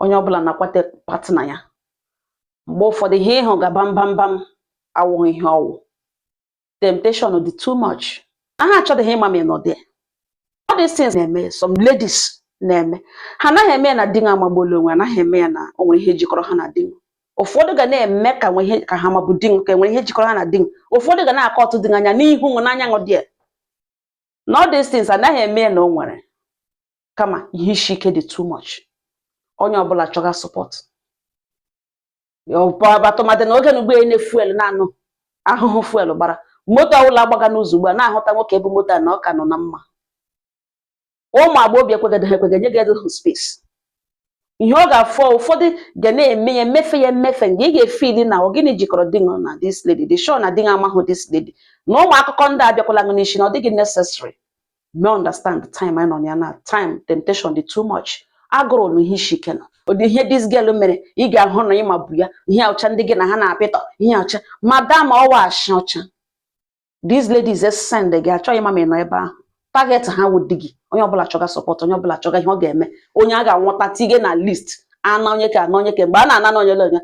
onye ọbụla na-akwata partner ya mgbe ụfọdụ ihe ị hụga bam bam bam awụghị ihe ọ wụ temptation dị too much ha achọdịghị ịma ma ị nọ there all these things na-eme some ladies na-eme ha anaghị eme ya na di nwa amagbuola onwe anaghị eme ya na o nwe ihe jikọrọ ha na di nwa ụfọdụ ga na-eme ka nwe ihe ka ha mabu di nwa ka e nwere ihe jikọrọ ha na di nwa ụfọdụ ga na-akọ ọtụ dị anya n'ihu nwe n'anya ṅụ dị ya na all these things anaghị eme ya na o nwere kama ihe isi ike dị too much onye ọbụla chọga support tụmadị n'oge na ugbu a na fuel na-anụ ahụhụ fuel gbara moto ọbụla agbaga n'ụzọ ugbu a na-ahụta nwoke bu moto na ọ ka nọ na mma ụmụ agbọghọ ekweghịdị ha ekweghị nye gị edohụ space ihe ọ ga-afọ ụfọdụ ga na-eme ya emefe ya emefe nga ị ga-efeel na ọ gịnị jikọrọ di na this lady dị sure na di amaghị this lady na ụmụ akụkọ ndị a abịakwala gị n'isi na ọ dịghị necessary me understand the time anyị nọ na ya na time temptation dị too much agụrụ na ihe isi ike nọ ụdị ihe this girl mere ị ga-ahụ na ị mabu ya ihe ọcha ndị gị na ha na-apịtọ ihe ọcha madam ọ wụ ashị ọcha these ladies send gị achọghị ịma ma ị nọ ebe ahụ target ha wụ di gị onye ọbụla chọga support onye ọbụla chọga ihe ọ ga-eme onye a ga-anwụta tinye na list ana onye ka ana onye ka mgbe a na-ana na onye onye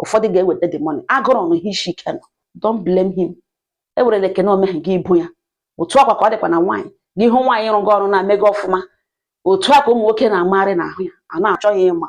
ụfọdụ ga-eweta the money agụrụ na ihe isi ike nọ don't blame him ewerela ekene omeghị gị ibu ya otu a kwa ka ọ dịkwa na nwaanyị gị hụ nwaanyị rụga ọrụ na-emega ọfụma otu a ka ụmụ nwoke na-amagharị n'ahụ ya a na-achọ ya ịma